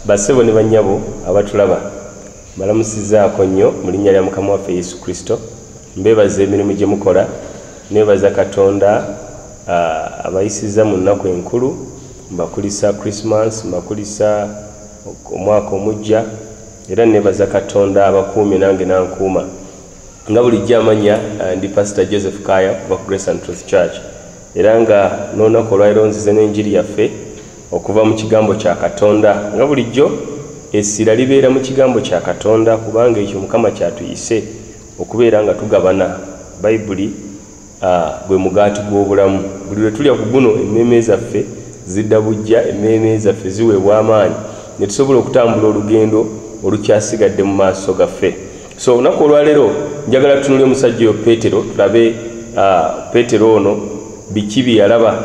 basebo ne banyabo abatulaba balamusizaako nnyo mu linnya lya mukama waffe yesu kristo mbeebaza emirimu gye mukola neebaza katonda abayisiza mu nnaku enkulu mbakulisa christmas mbakulisa omwaka omujja era nebaza katonda abakuumi nange nankuuma nga bulijjo amanya eh, ndi pasita joseph kaya kuva ku grace and truth church era nga n'olunaku olwaliro nzize n'enjiri yaffe okuva mu kigambo kya katonda nga bulijjo essira libeera mu kigambo kya katonda kubanga ekyo mukama kyatuyise okubeera nga tugabana bayibuli Ah, gwe mugaati gw'obulamu. Buli lwe tulya ku guno, emmeeme zaffe zidda buggya, emmeeme zaffe ziweebwa amaanyi, ne tusobola okutambula olugendo olukyasigadde mu maaso gaffe. So, olunaku olwaleero njagala tutunule omusajja oyo Peetero, tulabe ah, Peetero ono biki bye yalaba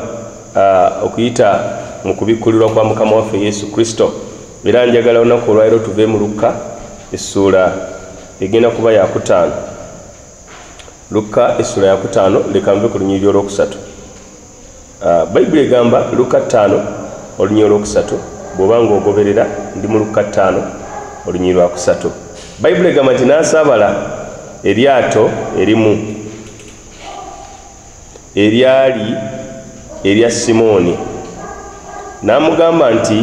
ah, okuyita mu kubikkulirwa kwa Mukama waffe Yesu Kristo. Era njagala olunaku olwaleero tuve mu Lukka essuula egenda kuba yakutaano. lukka essula yakutaano leka nve ku lunyiriri olwokusatu ah, bayibuli egamba lukka ttaano olunyiriri olwokusatu bw'oba ng'ogoberera ndi mu lukka ttaano olunyiriri lwakusatu bayibuli egamba nti n'asaabala eryato erimu eryali erya simooni n'amugamba nti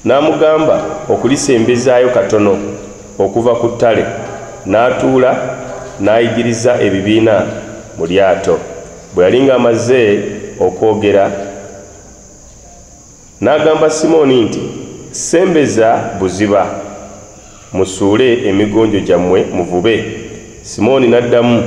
N'amugamba okulisembezaayo katono okuva ku ttale, n'atuula n'ayigiriza ebibiina mu lyato. Bwe yali ng'amaze okwogera, n'agamba Simooni nti, Sembeza buziba. Musuule emigonjo gyammwe muvube. Simooni n'addamu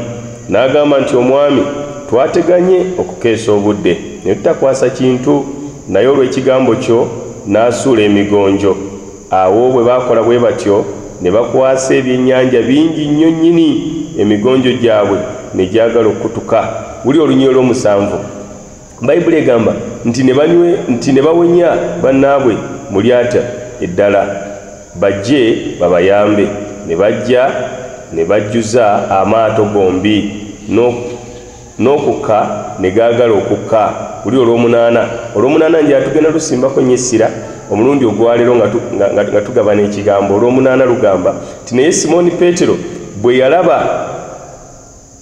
n'agamba nti, Omwami, twateganye okukeesa obudde ne tutakwasa kintu, naye olw'ekigambo kyo nasuula emigonjo. Awo bwe baakola bwe batyo, ne bakwasa ebyennyanja bingi nnyo nnyini, emigonjo gyabwe ne gyagala okukutuka. Wulira olunyiriri olw'omusanvu. bayibuli egamba nti nebanywe nti ne bawenya bannaabwe mu lyata eddala bajje babayambe ne bajja ne bajjuza amaato gombi n'okukka ne gaagala okukka kuli olw'omunaana olw'omunaana nja tugenda lusimbako nnyo essira omulundi ogwaleero nga tugabana ekigambo olw'omunaana lugamba nti naye simooni peetero bwe yalaba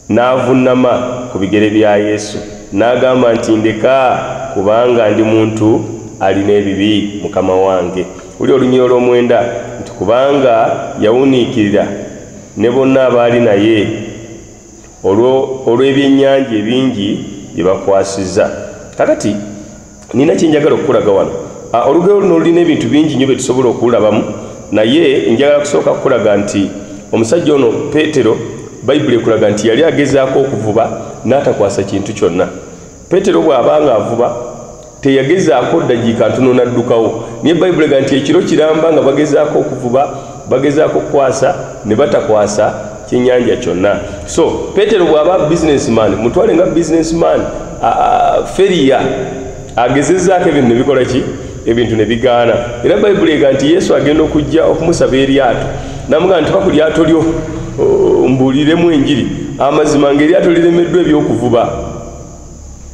N'avunnama ku bigere bya Yesu, n'agamba nti, Ndeka, kubanga ndi muntu alina ebibi, Mukama wange. Wulira olunyiriri olw'omwenda nti, Kubanga yawuniikirira ne bonna abaali naye olwo, olw'ebyennyanja ebingi bye bakwasizza. Kaakati. nina kyenjagala okukulaga wano ah, olugero luno lulina ebintu bingi nyo byetusobola okulabamu naye njagala kusooka kukulaga nti omusajja ono petero bayibuli ekulaga nti yali agezaako okuvuba n'atakwasa kintu kyonna petero bw'aba nga avuba teyagezaako ddagiika ntono n'addukawo naye bayibuli ega nti ekiro kiramba nga bagezaako okuvuba bagezaako okukwasa ne batakwasa kyenyanja kyonna so petero bwaba businessman mutwale nga businessman feriya agezezaako ebintu nebikola ki ebintu nebigaana era bayibuli ega nti yesu agenda okujja okumusaba eryato namuga nti baku lyato lyo mbuuliremu enjiri amazima ngaeryato liremeddwa ebyokuvuba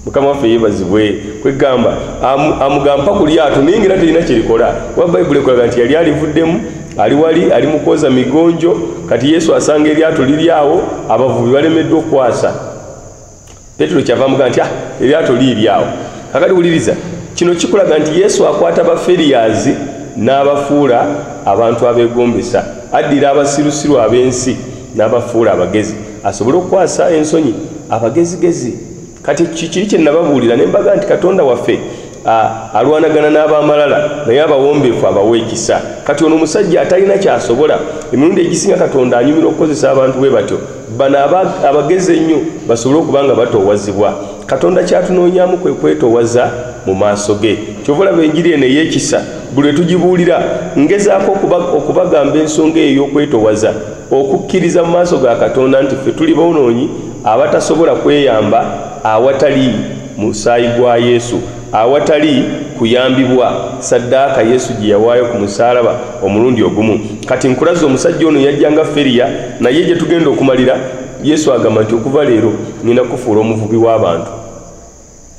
mukama waffe yebazibwe kwegamba amugamba mpaka lyato naye ngaera terina kyerikola kuba bayibuli ekulaga nti yali alivuddemu ali wali ali mukwoza migonjo kati yesu asanga eryato liri awo abavubi balemeddwa okukwasa petero kyava amugamba nti ah eryato liiri awo kakati wuliriza kino kikulaga nti yesu akwata baferiyazi n'abafuula abantu abegombesa addira abasirusiru ab'ensi n'abafuula abagezi asobole okukwasa ensonyi abagezigezi kati kikiri kye nababuulira ne mbaga nti katonda waffe alwanagana n'abamalala naye abawombeefu abawa ekisa kati ono omusajja atalina kyasobola emirundi egisinga katonda anyumira okukozesa abantu bwe batyo bano abagezi ennyo basobole okuba nga batoowazibwa katonda kyatunoonyamu kwe kwetoowaza mu maaso ge kyova olaba enjiri eno ey'ekisa buli lwe tugibuulira ngezaako okubagamba ensonga eyo y'okwetoowaza okukkiriza mu maaso ga katonda nti ffe tuli bonoonyi abatasobola kweyamba awatali musaayi gwa yesu awatali kuyambibwa saddaaka yesu gye yawaayo ku musaalaba omulundi ogumu kati nkulaza omusajja ono yajja nga feriya naye gye tugenda okumalira yesu agamba nti okuva leero ngenda kufuula omuvubi w'abantu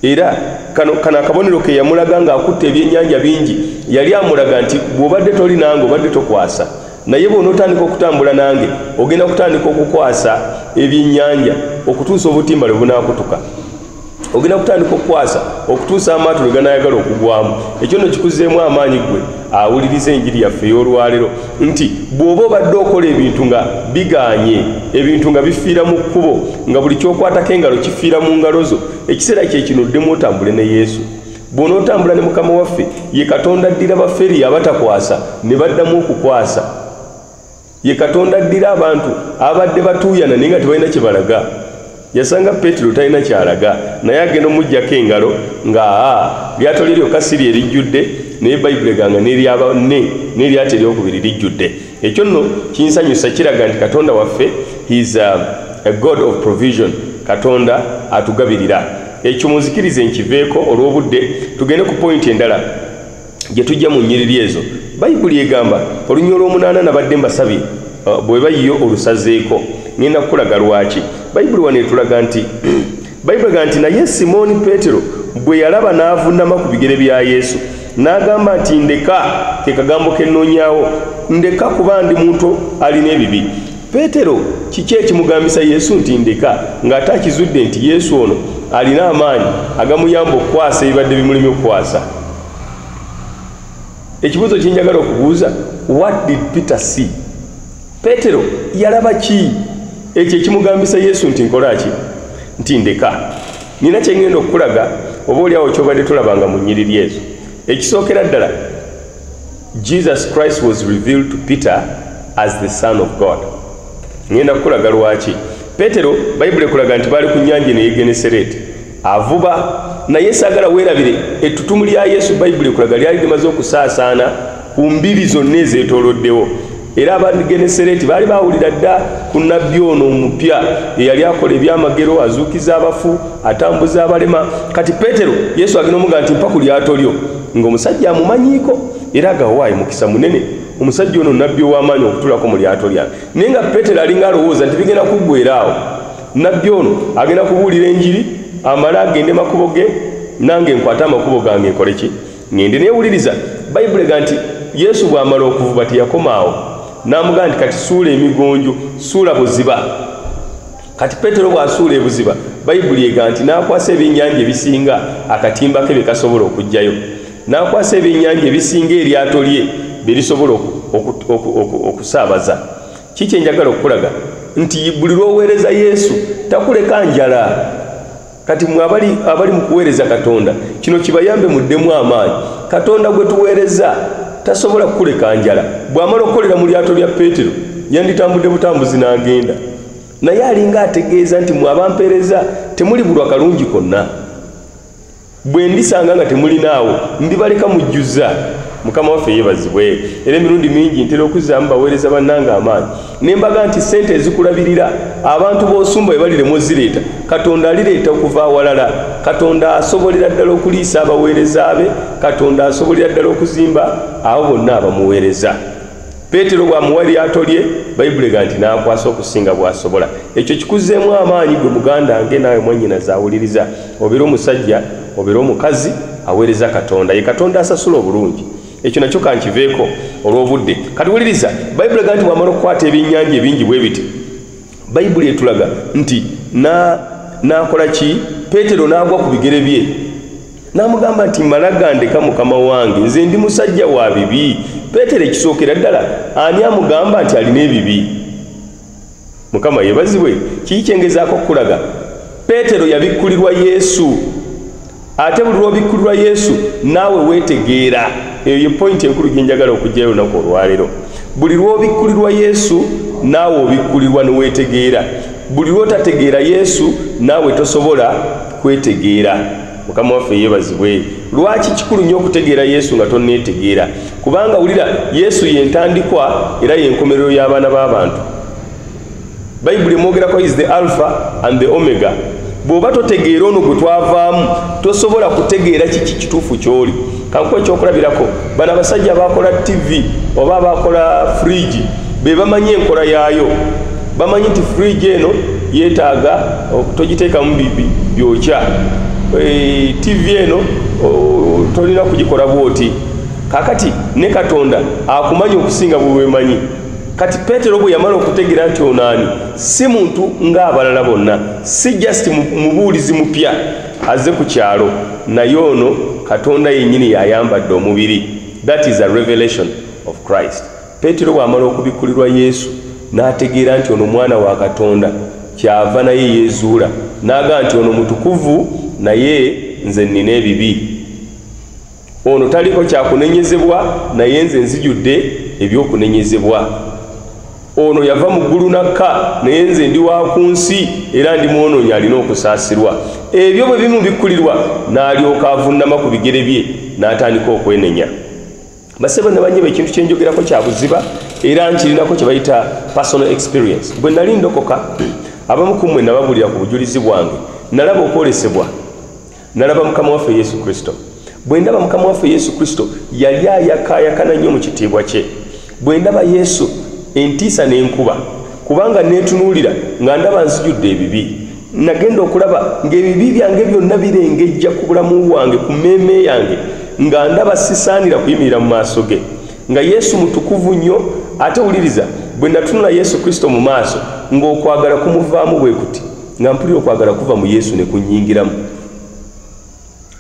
era kano kano akabonero ke yamulaga ng'akutte ebyennyanja bingi yali amulaga nti bw'obadde toli nange obadde tokwasa naye bw'onootandika okutambula nange ogenda kutandika okukwasa ebyennyanja okutuusa obutimba lwe bunaakutuka ogenda kutandika okukwasa okutuusa amaato lwe ganaayagala okugwamu ekyo no kikuzeemu amaanyi ggwe awuliriza enjiri yaffe ey'olwalero nti bw'oba obadde okola ebintu nga biganye ebintu nga bifiira mu kkubo nga buli kyokwatako engalo kifiira mu ngalo zo ekiseera kyekino oddemu otambule ne yesu bw'onootambula ne mukama waffe ye katonda addira baferi abatakwasa ne baddamu okukwasa ye katonda addira abantu abadde batuuyana naye nga tebalina kye balaga yasanga peetero talina kyalaga naye agenda omugjako engalo nga aa lyato lye lyokka si lye lijjudde naye bayibuli eganga neryabanne neryato eryokubiri lijjudde ekyo nno kinsanyusa kiraga nti katonda waffe his um, a god of provision katonda atugabirira ekyo munzikirize nkiveeko olw'obudde tugende ku pointi endala gye tujja mu nnyiriri ezo bayibuli egamba olunywa olw'omunaana nabadde mbasabye uh, bwe bayiyo olusazeeko ngenda kukulaga lwaki bayibuli wano etulaga nti bayibuli ga nti naye simooni peetero bwe yalaba n'avunnama ku bigere bya yesu n'agamba nti ndeka ke kagambo ke nnoonyawo ndeka kuba ndi muntu alina ebibi peetero kiki ekimugambisa yesu nti ndeka ng'ate akizudde nti yesu ono alina amaanyi agamuyamba okukwasa ebibadde bimulemye okukwasa ekibuuzo kyenjagala okubuuza what did peter see peetero yalaba ki ekyo ekimugambisa yesu nti nkola ki nti ndeka nina kyengenda okukulaga oba oliawo kyobadde tolabanga mu nyiriri ezo ekisookera ddala jesus christ was revealed to peter as the son of god ngenda kukulaga lwaki petero bayibuli ekulaga nti baali ku nyanja eno yegenesereti avuba naye sagala weerabire ettutumu lya yesu bayibuli ekulaga lyali limaze okusaasaana ku mbiri zonna ezeetooloddewo era abangenesereeti baali bawulira dda ku nabbi ono omupya eyali akola ebyamagero azuukiza abafu atambuza abalema kati peetero yesu agenda omuga nti mpa ku lyato lyo ng'omusajja amumanyiiko era agawaayi mukisa munene omusajja ono nabbi ow'amaanyi okutulako mu lyato lyange naye nga peetero alinga alowooza nti bigenda kuggwera awo nabbi ono agenda kubuulira enjiri amale agende makubo ge nange nkwate amakubo gange nkole ki ŋŋende neewuliriza bayibuli ega nti yesu bw'amala okuvuba teyakomaawo n'amugamba nti kati suula emigonjo suula buziba kati peetero bw'asuula ebuziba bayibuli ega nti n'akwasa ebyennyanja ebisinga akatimba ke bye kasobola okuggyayo n'akwasa ebyennyanja ebisinga eryato lye bye lisobola okusaabaza ki kye njagala okukulaga nti buli lw'oweereza yesu takuleka njala kati mwe abali, abali mu kuweereza katonda kino kibayambe muddemu amaanyi katonda gwe tuweereza tasobola kukuleka njala bw'amala okukolera mu lyato lya peetero yanditambudde butambuzi n'agenda naye alinga ategeeza nti mwe abampeereza temuli bulwa kalungi konna bwe ndisanga nga temulinaawo ndibaleka mujjuza mukama waffe yeebazibwe era emirundi mingi ntera okuzzaamu baweereza bannanga amaanyi nembaga nti sente ezikulabirira abantu bosumba ebalire muzireeta katonda alireeta okuva awalala katonda asobolera ddala okuliisa abaweereza be katonda asobolera ddala okuzimba abo bonna abamuweereza peetero bwamuwa lyato lye bayibuli ga nti n'akwasa okusinga bw'asobola ekyo kikuzeemu amaanyi gwe muganda nge naawe mwanyina zaawuliriza obeera omusajja obeera omukazi aweereza katonda ye katonda asasula obulungi ekyo nakyo kankiveeko olw'obudde kati wuliriza bayibuli ega nti bwamala okukwata ebyennyanja ebingi bwe biti bayibuli etulaga nti n'akola ki peetero n'agwa ku bigere bye n'amugamba nti mala gandeka mukama wange nze ndi musajja wa bibi peetero ekisookera ddala ani amugamba nti alina ebibi mukama yebazibwe kiki kyengezaako okukulaga peetero yabikkulirwa yesu ate buli lwobikkulirwa yesu naawe weetegeera eyo ye pointi enkulu gyenjagala okugyayo olunaku olwaleero buli lwobikkulirwa yesu naawe obikkulirwa neweetegeera buli lwotategeera yesu naawe tosobola kwetegeera mukama waffe yebazibwe lwaki kikulu nnyo okutegeera yesu nga tonneetegeera kubanga wulira yesu yentandikwa era yenkomerero y'abaana b'abantu bayibuli emwogerako is the alpha and the omega bw'oba totegeera ono gwe twavaamu tosobola kutegeera kiki kituufu ky'oli kankuwa ekyokulabirako bano abasajja abakola ttivi oba abakola fridge be bamanyi enkola yaayo bamanyi nti fridge eno yeetaaga togiteekamu byokya e, ttivi eno tolina kugikola bwoti kakati ne katonda akumanyi okusinga bwewemanyi kati petero bwe yamala okutegeera nti onaani si muntu ng'abalala bonna si just mubuulizi mupya azze ku kyalo naye ono katonda yennyini yayambadde omubiri that is a revelation of christ peetero bw'amala okubikkulirwa yesu n'ategeera nti ono mwana wa katonda kyava naye yeezuula n'aga nti ono mutukuvu naye nze nnina ebibi ono taliko kyakunenyezebwa naye nze nzijudde ebyokunenyezebwa ono yava mu ggulu nakka naye nze ndi wa ku nsi era ndi mwonoonyi alina okusaasirwa ebyo bwe bimu bikkulirwa n'alyoka avunnama ku bigere bye n'atandika okwenenya basebo nabanyeba ekintu kyenjogerako kya buziba era nkirinako kye bayita personal experience bwe nali ndokoka abamu ku mmwe nababulira ku bujulizi bwange nalaba okwolesebwa nalaba mukama waffe yesu kristo bwe ndaba mukama waffe yesu kristo yali ayakaayakana nnyo mu kitiibwa kye bwe ndaba yesu entiisa n'enkuba kubanga neetunuulira nga ndaba nzijudde ebibi nagenda okulaba ng'ebibi byange byonna birengejja ku bulamu bwange ku mmeeme yange nga ndaba sisaanira kuyimirira mu maaso ge nga yesu mutukuvu nnyo ate wuliriza bwe natunula yesu kristo mu maaso ng'okwagala kumuvaamu bwe kuti nga mpulira okwagala kuva mu yesu ne kunyingiramu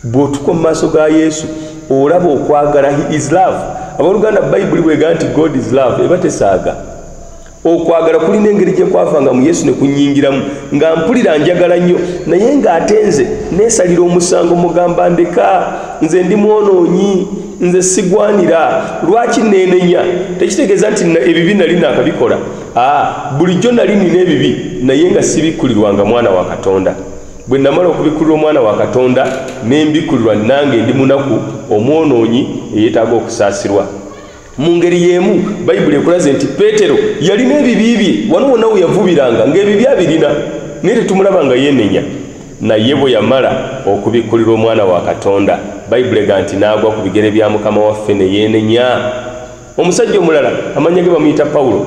bw'otuka mu maaso ga yesu olaba okwagala he is love aboluganda bayibuli bwega nti god is love eba tesaaga okwagala kulina engeri gye kwavanga mu yesu ne kunyingiramu nga mpulira njagala nnyo naye ng'ate nze neesalira omusango mugamba ndeka nze ndi mwonoonyi nze sigwanira lwaki neenenya tekitegeeza nti ebibi nali naakabikola Ah, bulijjo nali nina ebibi naye nga sibikkulirwanga mwana wa katonda bwe namala okubikkulirwa omwana wa katonda ne mbikkulirwa nange ndi munaku omwonoonyi eyeetaaga okusaasirwa mu ngeri y'emu bayibuli ekulaze nti peetero yalina ebibi bye wano wonna we yavubiranga ng'ebibi abirina naye tetumulaba nga yeenenya naye bwe yamala okubikkulirwa omwana wa katonda bayibuli ega nti n'agwa ku bigere bya mukama waffe ne yeenenya omusajja omulala amannya ge bamuyita pawulo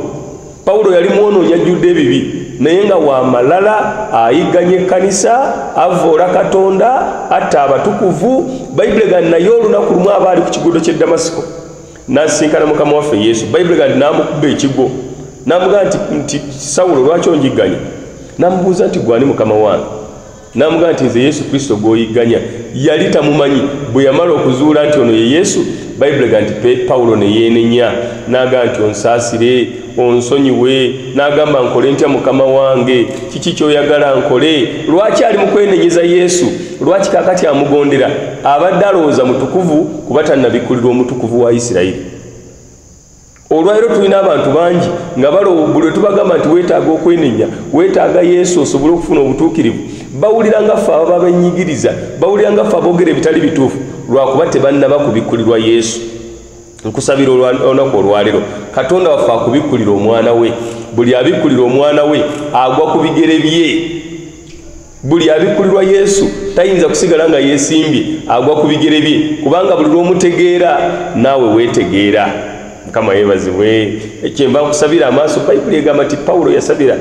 pawulo yali mwonoonyi ajjudde ebibi naye nga wa malala ayigganya ekkanisa avvoola katonda atta abatukuvu bayibuli gandi naye olunaku lumu aba ali ku kigudo ky'e damasiko n'asisinkana mukama waffe yesu bayibuli gandi n'amukuba ekigo n'amugamba nti sawulo lwaki onjigganya n'amubuuza nti gwani mukama wange n'amugamba nti nze yesu kristo gw'oyigganya yali tamumanyi bwe yamala okuzuula nti ono ye yesu bayibuli ga nti pawulo ne yeenenya n'agamba nti onsaasire onsonyiwe n'agamba nkole ntya mukama wange kiki ky'oyagala nkole lwaki ali mu kwenenyeza yesu lwaki kakati amugondera abadde alowooza mutukuvu kuba tannabikkulirwa omutukuvu wa isirayiri olwaliro tulina abantu bangi nga balowbuli wetubagamba nti wetaaga okwenenya wetaaga yesu osobole okufuna obutuukirivu bawulira nga ffe ababa benyigiriza bawulira nga ffe aboogera ebitali bituufu lwakuba tebannaba kubikkulirwa yesu nkusabira olunaku olwaliro katonda waffe akubikkulira omwana we buli abikkulira omwana we agwa ku bigere bye buli abikkulirwa yesu tayinza kusigala nga yeesimbye agwa ku bigere bye kubanga buli lw'omutegeera naawe weetegeera mukama yeebazibwe kyenva nkusabira amaaso bayibuli egamba nti pawulo yasabira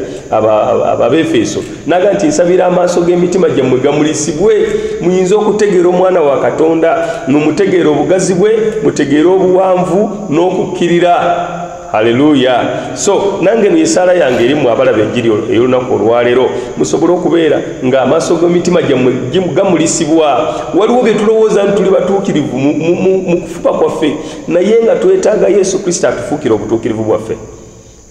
ababeefeeso naga nti nsabira amaaso g'emitima gyammwe gamulisibwe muyinza okutegeera omwana wa katonda numutegeera obugazi bwe mutegeere obuwanvu n'okukkirira haleluya so nange nesaala yange erimu abalaba enjiri ey'olunaku olwaleero musobole okubeera ng'amaaso g'emitima gyammwe gamulisibwa waliwo bye tulowooza nti tuli batuukirivu mu kufuba kwaffe naye nga twetaaga yesu kristo atufuukira obutuukirivu bwaffe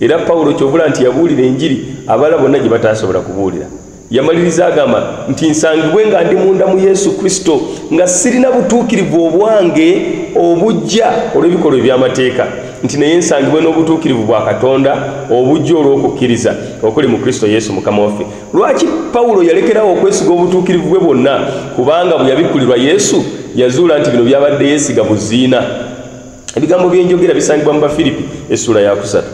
era pawulo kyovula nti yabuulira enjiri abala bonna gye bataasobola kubuulira yamaliriza agamba nti nsangibwe nga ndi munda mu yesu kristo nga sirina butuukirivu obwange obujja olw'ebikolwa eby'amateeka nti naye nsangibwe n'obutuukirivu bwa katonda obujja olw'okukkiriza okuli mu kristo yesu mukama waffe lwaki pawulo yalekerawo okwesiga obutuukirivu bwe bwonna kubanga bwe yabikkulirwa yesu yazuula nti bino byabadde yeesiga buziina ebigambo by'enjogera bisangibwa mu bafiripi essuula yakusatu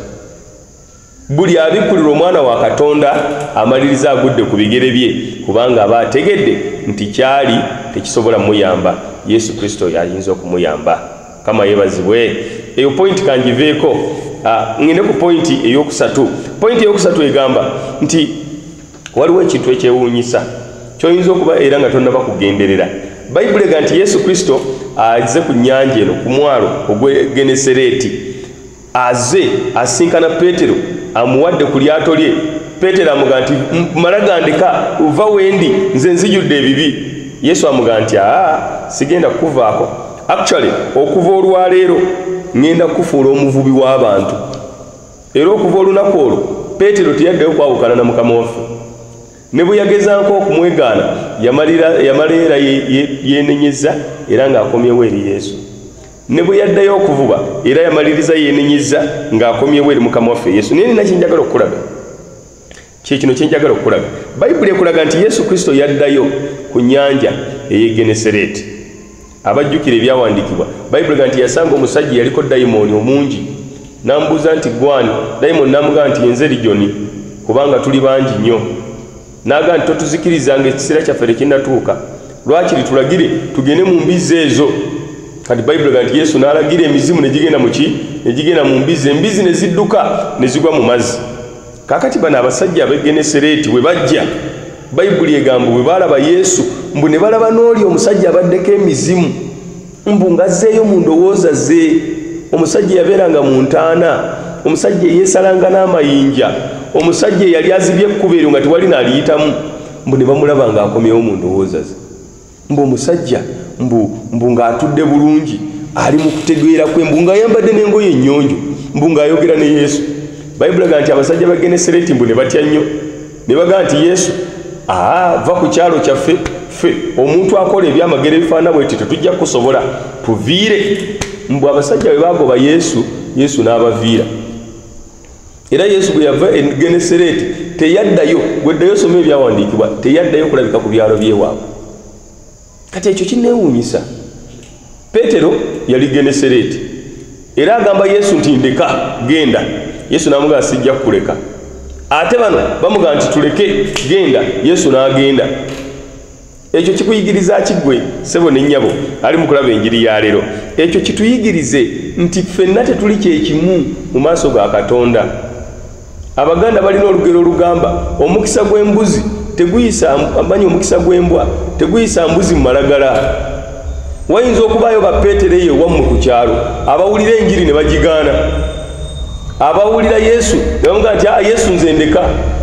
buli abikkulira omwana wa katonda amaliriza agudde ku bigere bye kubanga aba ategedde nti kyali tekisobola muyamba yesu kristo yayinza okumuyamba kama yebazibwe eyo pointi kangiveeko ah, ŋende ku pointi eyokusatu pointi eyokusatu egamba nti waliwo ekintu ekyewuunyisa kyoyinza okuba era nga tonnaba kugenderera bayibuli ega nti yesu kristo aze ku nyanja eno ku mwalo ogwegenesereeti Aze asinkana Petero amuwadde ku lyato lye. Petero amuga nti mala gandika uva wendi nze nzijudde ebibi. Yesu amuga nti aa sigenda kuvaako. Actually okuva olwaleero ngenda kufuula omuvubi w'abantu. Era okuva olunaku olwo Petero teyaddeyo kwawukana na mukama waffe. Ne bwe yagezanko okumwegaana yamala era yenenyezza era ng'akomyewo eri Yesu. ne bwe yaddayo okuvuba era yamaliriza yeenenyezza ng'akomyewo eri mukama waffe yesu naye nina kyenjagala okukulaga kyekino kyenjagala okukulaga bayibuli ekulaga nti yesu kristo yaddayo ku nyanja eyegenesereeti abajjukira ebyawandiikibwa bayibuli ga nti yasanga omusajja yaliko dayimooni omungi n'amubuuza nti gwani dayimooni n'amugamba nti yenze lijoni kubanga tuli bangi nnyo N'agamba nti, Totuzikiriza nga ekiseera kyaffe tekinnatuuka. Lwakiri tulagire tugende mu mbizzi ezo. Kati Bayibuli egamba nti Yesu n'alagira emizimu ne gigenda mu ki? Ne gigenda mu mbizzi. Embizzi ne zidduka ne zigwa mu mazzi. Kaakati bano abasajja ab'e Genesereeti bwe bajja, Bayibuli egamba bwe baalaba Yesu, mbu ne balaba n'oli omusajja abaddeko emizimu. mbu ngazzeeyo mu ndowooza ze omusajja eyabeeranga mu ntaana omusajja eyeesalanga n'amayinja omusajja eyali azibye ekkuba eryo nga tewali naaliyitamu mbu ne bamulaba ng'akomyewo mu ndowooza ze mbu omusajja mbu mbu ng'atudde bulungi ali mu kutegeera kwe mbu ng'ayambadde n'engoye ennyonjo mbu ng'ayogera ne yesu bayibulaga nti abasajja ba genesireti mbu ne batya nnyo ne bagamba nti yesu aa va ku kyalo kyaffe ffe omuntu akola ebyamagero ebifaana bweti tetujja kukusobola tuviire mbu abasajja bwe bagoba yesu yesu n'abaviira era yesu bwe yava e genesereeti teyaddayo gweddayo soma ebyawandiikibwa teyaddayo kulabika ku byalo byewaabwe kati ekyo kinneewuunyisa peetero yali genesereeti era agamba yesu nti ndeka genda yesu n'amugamba sijja kukuleka ate bano bamugamba nti tuleke genda yesu n'agenda ekyo kikuyigiriza kiggwe sebo ne nnyabo ali mu kulaba enjiri ya leero ekyo kituyigirize nti ffenna tetuli kyekimu mu maaso ga katonda abaganda balina olugero olugamba omukisa gw'embuzi teguyisa amanyi omukisa gw'embwa teguyisa mbuzi mu malagala wayinza okubaayo bapeetero eyo ewammwe ku kyalo abawulira enjiri ne bagigaana abawulira yesu ne bamugaa nti a ah, yesu nze ndeka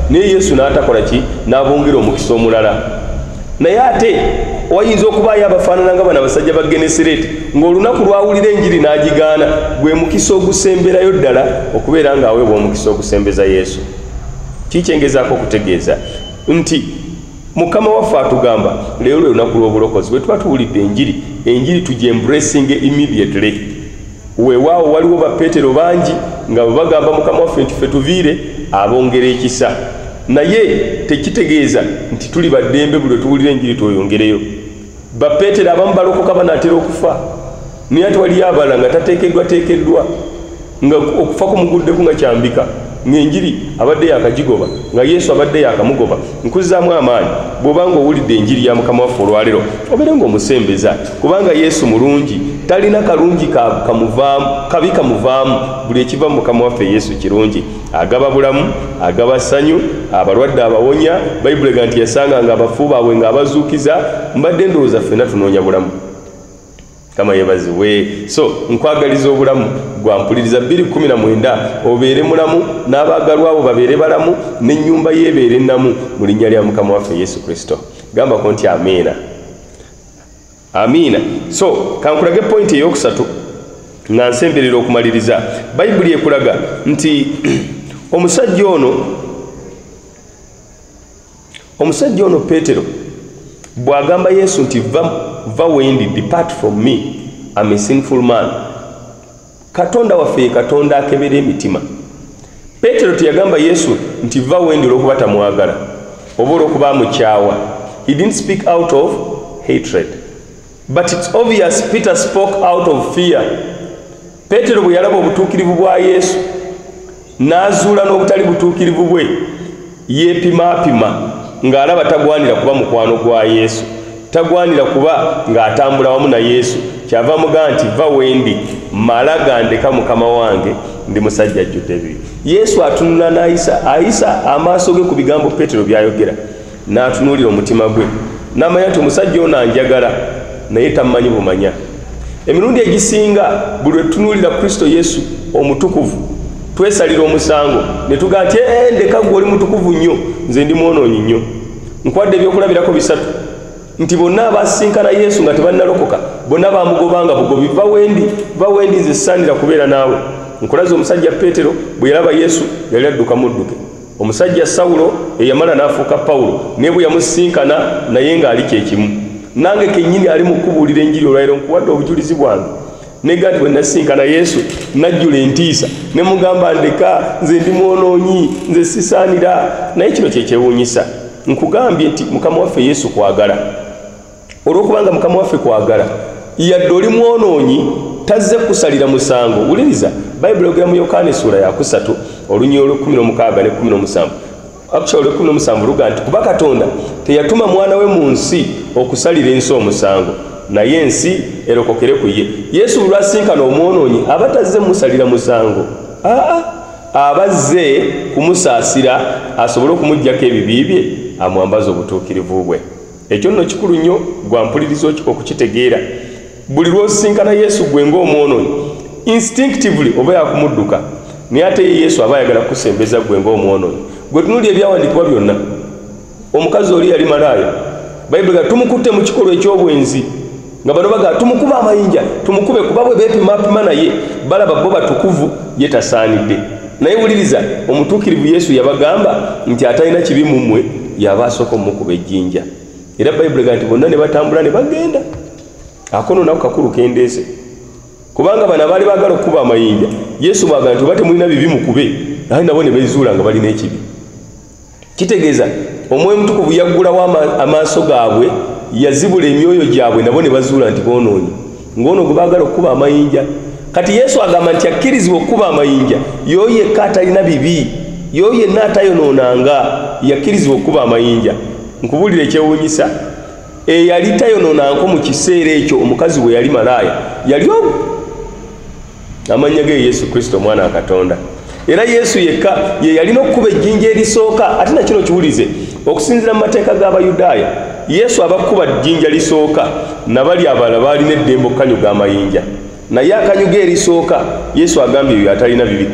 naye yesu n'atakola ki n'abongera omukisa omulala naye ate wayinza okubaayo abafaanana nga bana basajja ba genesireti ng'olunaku lwawulira enjiri n'agigaana gwe mukisa ogusemberayo ddala okubeera ng'aweebwa omukisa ogusembeza yesu kikyengezaako okutegeeza nti mukama waffe atugamba leero lwe lunaku lw'obulokozi bwe tuba tuwulidde enjiri enjiri tugyembrasinge immediately Weewaawo, waliwo Bapetero bangi nga bwe bagamba Mukama waffe nti ffe tuviire, abongera ekisa. Naye tekitegeeza nti tuli ba ddembe buli lwe tuwulira Enjiri tweyongereyo. Bapetero abamu balokoka banaatera okufa, naye ate waliyo abalala nga tateekeddwateekeddwa, nga okufa kumuguddeko nga kyambika, ng'Enjiri abadde yaakagigoba, nga Yesu abadde yaakamugoba. nkuzzaamu amaanyi bw'oba nga owulidde enjiri ya mukama waffe olwalero obeere nga omusembeza kubanga yesu mulungi talina kalungi kamuvaamu kabi kamuvaamu buli ekiva mu mukama waffe yesu kirungi agaba bulamu agaba ssanyu abalwadde abawonya bayibuli ega nti yasanga nga abafu baabwe ng'abazuukiza mbadde endowooza ffena tunoonya bulamu kama yebazibwe so nkwagaliza obulamu gwampuliriza 219 obeere mulamu n'abaagalwa abo babeere balamu n'ennyumba yeebeere namu mu linnya lya mukama waffe yesu kristo gambako nti amiina amiina so kankulage pointi eyokusatu nga nsemberera okumaliriza bayibuli ekulaga nti omusajja ono omusajja ono peetero bw'agamba yesu nti va wendi depart from me am a sinful man katonda waffe ye katonda akebera emitima peetero teyagamba yesu nti va wendi olw'okuba tamwagala oba olw'okuba amukyawa he didn't speak out of hatred But it's obvious Peter spoke out of fear. Petero bwe yalaba obutuukirivu bwa Yesu n'azuula n'obutali butuukirivu bwe yeepimaapima ng'alaba tagwanira kuba mukwano gwa Yesu, tagwanira kuba ng'atambula wamu na Yesu. Kyava muga nti va wendi mala gandeka mukama wange ndi musajja ajjudde bibi. Yesu atunula n'ayisa ayisa amaaso ge ku bigambo Petero by'ayogera. n'atunuulira omutima gwe n'amanya nti omusajja ono anjagala naye tammanyi bumanya emirundi egisinga buli lwetutunuulira kristo yesu omutukuvu twesalira omusango ne tugaa nti ee ndeka gwe oli mutukuvu nnyo nze ndi mwonoonyi nnyo nkwadde ebyokulabirako bisatu nti bonna abasisinkana yesu nga tebannalokoka bonna bamugobanga bugobi va wendi va wendi nze sisaanira kubeera naawe nkulaza omusajja peetero bwe yalaba yesu yali adduka mudduke omusajja sawulo eyamala n'afuuka pawulo naye bwe yamusisinkana naye ng'ali kye kimu nange kennyini ali mu kubuulira enjiri olwaliro nkuwadde obujulizi bwange nega nti bwe nasisinkana yesu najjula entiisa ne mugamba ndeka nze ndi mwonoonyi nze sisaanira naye kino kye kyewuunyisa nkugambye nti mukama waffe yesu kwagala olwokubanga mukama waffe kwagala yadde oli mwonoonyi tazze kusalira musango wuliriza bayibuli ogera mu yokaana essuula yakusatu olunyii olwekumi nomukaaga nekumi nomusanvu actually olwekumi nomusanvu luga nti kuba katonda teyatuma mwana we mu nsi okusalira ensi omusango naye ensi erokokere ku ye yesu bulwasinkana omwonoonyi aba tazze musalira musango aa abazze kumusaasira asobole okumugjako ebibi bye amwambaza obutuukirivu bwe ekyo nno kikulu nnyo gwa mpuliriza okukitegeera buli lwosisinkana yesu gwe ngaomwonoyi instinctively oba yakumudduka naye ate ye yesu aba ayagala kukusembeza gwe ngaomwonoyi gwe tunuli ebyawandikibwa byonna omukazi oli yali malaaya bayibuli ga tumukutte mu kikolwa eky'obwenzi nga bano bagala tumukube amayinja tumukube kuba bwe beepimapima naye balaba bo batukuvu ye tasaanidde naye wuliriza omutuukirivu yesu yabagamba nti atalina kibi mu mmwe yaba asooka omukuba ejjinja era bayibuli ga nti bonna ne batambula ne bagenda akono nako kakulu kendeese kubanga bano abaali baagala okukuba amayinja yesu bwaga nti oba temulina bibi mukube naye nabo ne bezuula nga balina ekibi kitegeeza omwoyo mutukuvu yaggulawo amaaso gaabwe yazibula emyoyo gyabwe nabo ne bazuula nti boonoonyi ng'ono gwe baagala okukuba amayinja kati yesu agamba nti akkirizibwa okukuba amayinja yoyo yekka atalina bibi yoyo yenna atayonoonanga yakkirizibwa okukuba amayinja nkubuulira ekyewuunyisa eyali tayonoonanko mu kiseera ekyo omukazi we yali malaaya yali amannya ge yesu kristo omwana wa katonda era yesu yekka ye yalina okukuba ejjinja erisooka ate nakino kiwulize okusinzira mu mateeka g'abayudaaya yesu abakuba jjinja lisooka nabali abala baalina eddembe okukanyuga amayinja naye akanyuga erisooka yesu agambye ebyo atalina bibi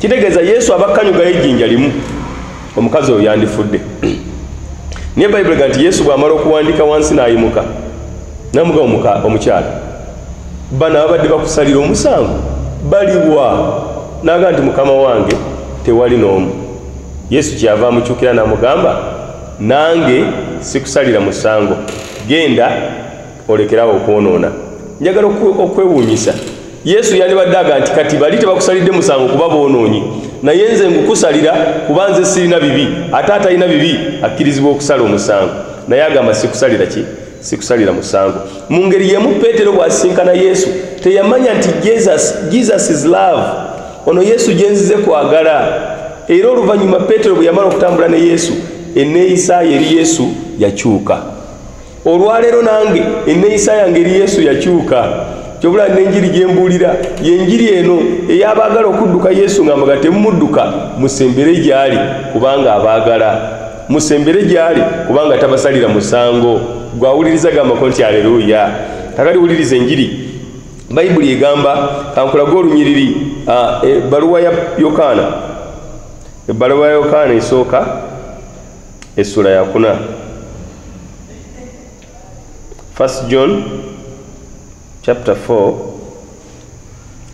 kitegeeza yesu abakanyugayo ejjinja limu omukazi oyo yandifudde naye bayibuli ga nti yesu bw'amala okuwandiika wansi n'ayimuka namuga omukyala bano ababadde bakusalira omusango baliwa naga nti mukama wange tewali n'omu yesu kyava amukyukira n'amugamba nange sikusalira musango genda olekerawo okwonoona njagala okwewuunyisa yesu yandibadde aga nti kati bali tebakusalidde musango kuba boonoonyi naye nze ngukusalira kuba nze sirina bibi ate atalina bibi akkirizibwa okusala omusango naye agamba sikusalira ki sikusalira musango mu ngeri yemu peetero bw'asisinkana yesu teyamanya nti jesus, jesus is love ono yesu gye nzize kwagala era oluvannyuma peetero bwe yamala okutambula ne yesu enneeyisaayo eri yesu yakyuka olwaleero nange enneeyisa yange eri yesu yakyuka kyobula nenjiri gyembuulira yenjiri eno eyabaagala okudduka yesu nga mbaga temumudduka musembere gyali kubanga abaagala musembere gyali kubanga tabasalira musango gwawuliriza gambako nti aleluya kakati wuliriza enjiri bayibuli egamba kankulage olunyiriri ebbaluwa e, ya yokaana ebbaluwa ya yokaana esooka essula yakuna first john chapter 4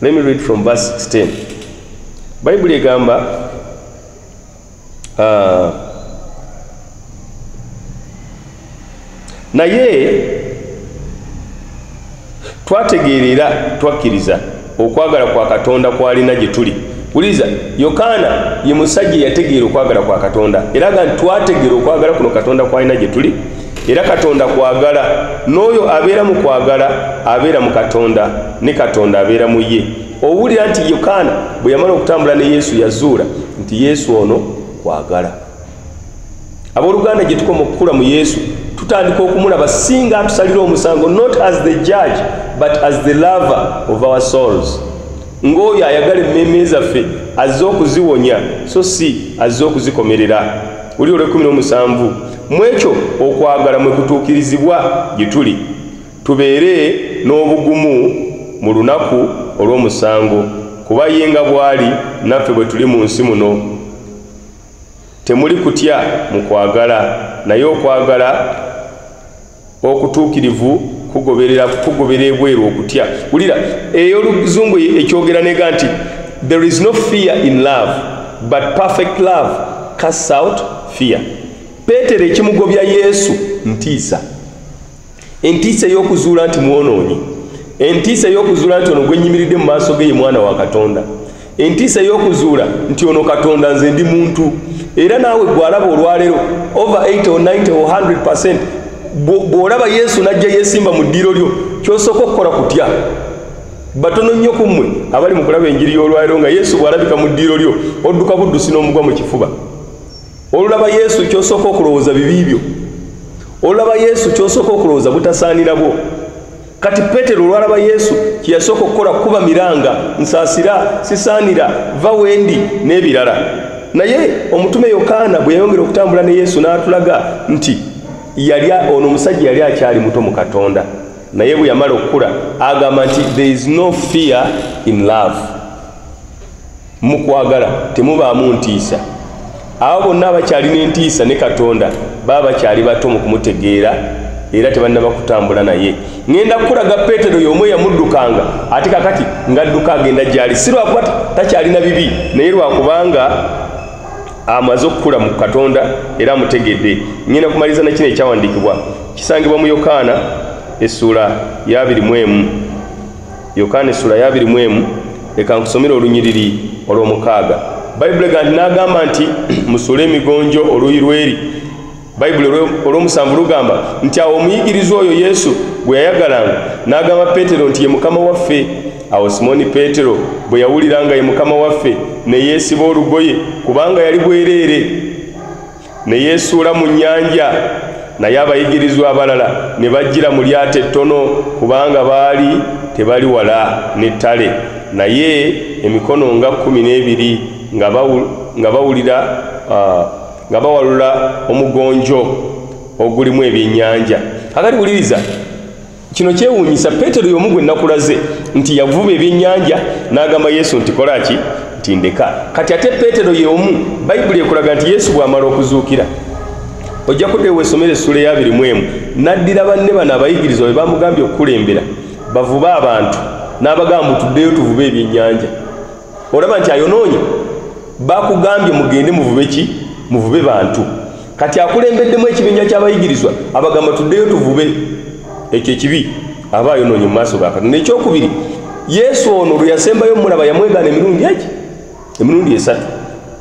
let me read from verse 16 bayibuli egamba Ah. naye twategeera era twakkiriza okwagala kwa katonda kwalina gye tuli wuliriza yokaana ye musajja eyategeera okwagala kwa katonda era ga nti twategeera okwagala kuno katonda kwalina gye tuli era katonda kwagala n'oyo abeera mu kwagala abeera mu katonda ne katonda abeera mu ye owulira nti yokaana bwe yamala okutambula ne yesu yazuula nti yesu ono kwagala abooluganda gye tukoma okukula mu yesu tutandika okumulaba singa atusalira omusango not as the judge but as the lover of our souls ng'oyo ayagala emmeeme zaffe azze okuziwonya so si azze okuzikomerera oli olwekumi n'omusanvu mu ekyo okwagala mwe kutuukirizibwa gye tuli Tubeere n'obugumu mu lunaku olw'omusango, kuba ye nga bw'ali naffe bwe tuli mu nsi muno. Temuli kutya mu kwagala, naye okwagala okutuukirivu kugoberera kugobera ebweru okutya. Wulira ey'Oluzungu ekyogera n'ega nti, There is no fear in love, but perfect love casts out fear. Peetero ekimugobya Yesu ntiisa. entiisa ey'okuzuula nti mwonoonyi entiisa ey'okuzuula nti ono gwenyimiridde mu maaso ge ye mwana wa katonda entiisa ey'okuzuula nti ono katonda nze ndi muntu era naawe gwalaba olwaleero over 8 or 90 or 100 percent bw'olaba yesu n'ajja yeesimba mu ddiiro lyo kyosooka okukola kutya batono nnyo ku mmwe abali mu kulaba enjiri y'olwaliro nga yesu bw'alabika mu ddiiro lyo odduka buddusi n'omugwa mu kifuba olulaba yesu kyosooka okulowooza bibi byo olulaba yesu kyosooka okulowooza butasaanira bwo kati petero olwalaba yesu kyeyasooka okukola kukuba miranga nsaasira sisaanira va wendi n'ebirala naye omutume yokaana bwe yayongera okutambula ne yesu n'atulaga nti yali ono omusajja yali akyali muto mu katonda naye bwe yamala okukula agamba nti there is no fear in love mu kwagala temubaamu ntiisa abo bonna abakyalina entiisa ne katonda baba bakyali bato mu kumutegeera era tebannaba kutambula naye ŋenda kukulaga petero y'omu eyamuddukanga ate kakati ngadduka agenda gyali si lwakuba takyalina bibi naye lwakubanga amaze okukula mu katonda era amutegedde ŋenda kumaliriza nakino ekyawandiikibwa kisangibwa mu yokaana essuula ya 21 yokaana essula yabiri mu emu leka nkusomere olunyiriri olw'omukaaga bayibuli ega nti n'agamba nti musule emigonjo oluuyi lweri bayibuli olw'omusanvu lugamba nti awo omuyigirizwa oyo yesu gwe yayagalanga n'agamba peetero nti ye mukama waffe awo simooni peetero bwe yawulira nga ye mukama waffe ne yeesiba olugoye kubanga yali bwereere ne yeesuula mu nnyanja naye abayigirizwa abalala ne bajjira mu lyato ettono kubanga baali tebali wala n'ettale naye emikono nga kkumi n'ebiri nga bawulira nga bawalula omugonjo ogulimu ebyennyanja akati wuliriza kino kyewuunyisa peetero y'omu gwe nakulaze nti yavuba ebyennyanja n'agamba yesu nti kola ki nti ndeka kati ate peetero y'omu bayibuli ekulaga nti yesu bw'amala okuzuukira ojja kuddayo weesomera essuula eyabiri mu emu n'addira banne bano abayigirizwa be bamugambye okukulembera bavube abantu n'abagamba mbu tuddeyo tuvube ebyennyanja olaba nti ayonoonye bakugambye mugende muvube ki muvube bantu kati akulembeddemu ekibinja kyabayigirizwa abagamba tuddeyo tuvube ekyo ekibi aba ayonoonye mu maaso gakati nekyokubiri yesu ono lwe yasembayo omulaba yamwegaana emirundi eki emirundi esatu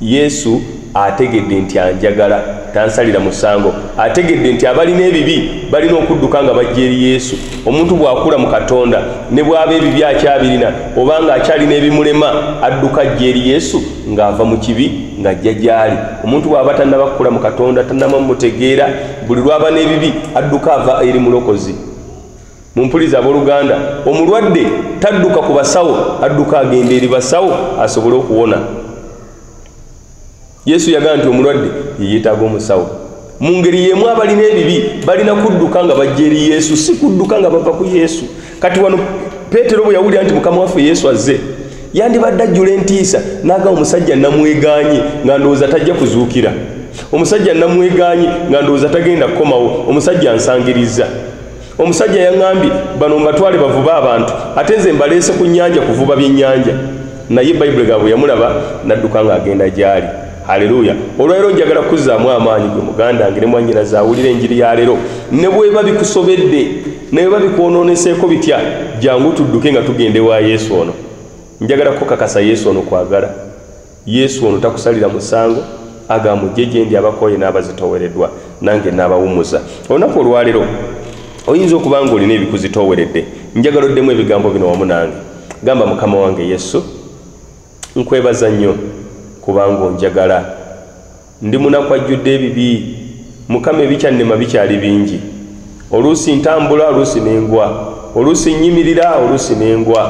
Yesu ategedde nti anjagala, tansalira musango. Ategedde nti abalina ebibi balina okudduka nga bajja eri Yesu. Omuntu bw'akula mu Katonda, ne bw'aba ebibi akyabirina oba nga akyalina ebimulema, adduka ajja eri Yesu nga ava mu kibi nga ajja gy'ali. Omuntu bw'aba tannaba kukula mu Katonda, tannaba mutegeera, buli lw'aba n'ebibi adduka ava eri Mulokozi. mumpuliza aboluganda omulwadde tadduka ku basawo adduka agenda eri basawo asobole okuwona yesu yagaa nti omulwadde yeyetaaga omusawo mu ngeri yemu abalina ebibi balina kudduka nga bajja eri yesu si kudduka nga bava ku yesu kati wano peetero bwe yawulira nti mukama waffe yesu azze yandibadde ajjula entiisa naaga omusajja namweganye nga ndowooza tajja kuzuukira omusajja namweganye nga ndowooza tagenda kukomawo omusajja ansangirizza omusajja yaŋambye bano mbatwale bavuba abantu ate nze mbaleese ku nyanja kuvuba byenyanja naye bayibuli gabwe yamulaba nadduka nga agenda gyali haleluya olwalero njagala kuzaamu amaanyi gwe muganda nge ne mwanyina zawulira enjiri ya lero ne bweba bikusobedde neweba bikwonooneseeko bitya jangu tudduke nga tugende wa yesu ono njagala kukakasa yesu ono kwagala Yesu ono takusalira musango agamba mujje gye ndi abakooye n'abazitooweredwa nange n'abawumuza olunaku olwaleero oyinza okuba nga olina ebikuzitooweredde njagala oddemu ebigambo bino wamu nange gamba mukama wange yesu nkwebaza nnyo kubanga onjagala Ndi munaku ajjudde ebibi. Mukama ebikyannema bikyali bingi. Oluusi ntambula oluusi ne ngwa. Oluusi nnyimirira oluusi ne ngwa.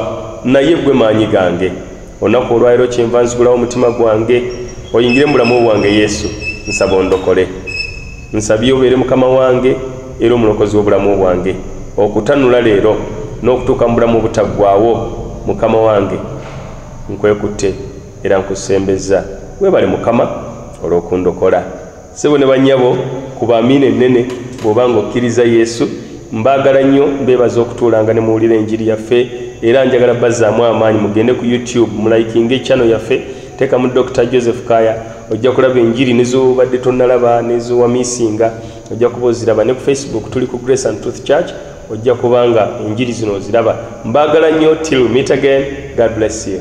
Naye ggwe maanyi gange. Olunaku olwaleero kyenva nzigulawo omutima gwange oyingire mu bulamu bwange Yesu. Nsaba ondokole. Nsabye obeere Mukama wange era omulokozi w'obulamu bwange. Okutanula leero n'okutuuka mu bulamu obutaggwaawo. Mukama wange nkwekutte. era nkusembezza webale mukama olw'okundokola sebo ne bannyabo kuba amiina ennene bw'oba ng'okkiriza yesu mbaagala nnyo mbeebaza okutuulanga ne muwulira enjiri yaffe era njagala bazzaamu amaanyi mugende ku youtube mulayikinga ekyano yaffe teekamu dr joseph kaya ojja kulaba enjiri nezobadde tonnalaba nezowamisinga ojja kuba oziraba ne ku facebook tuli ku grace and truth church ojja kubanga enjiri zino oziraba mbaagala nnyo till meet again god bless you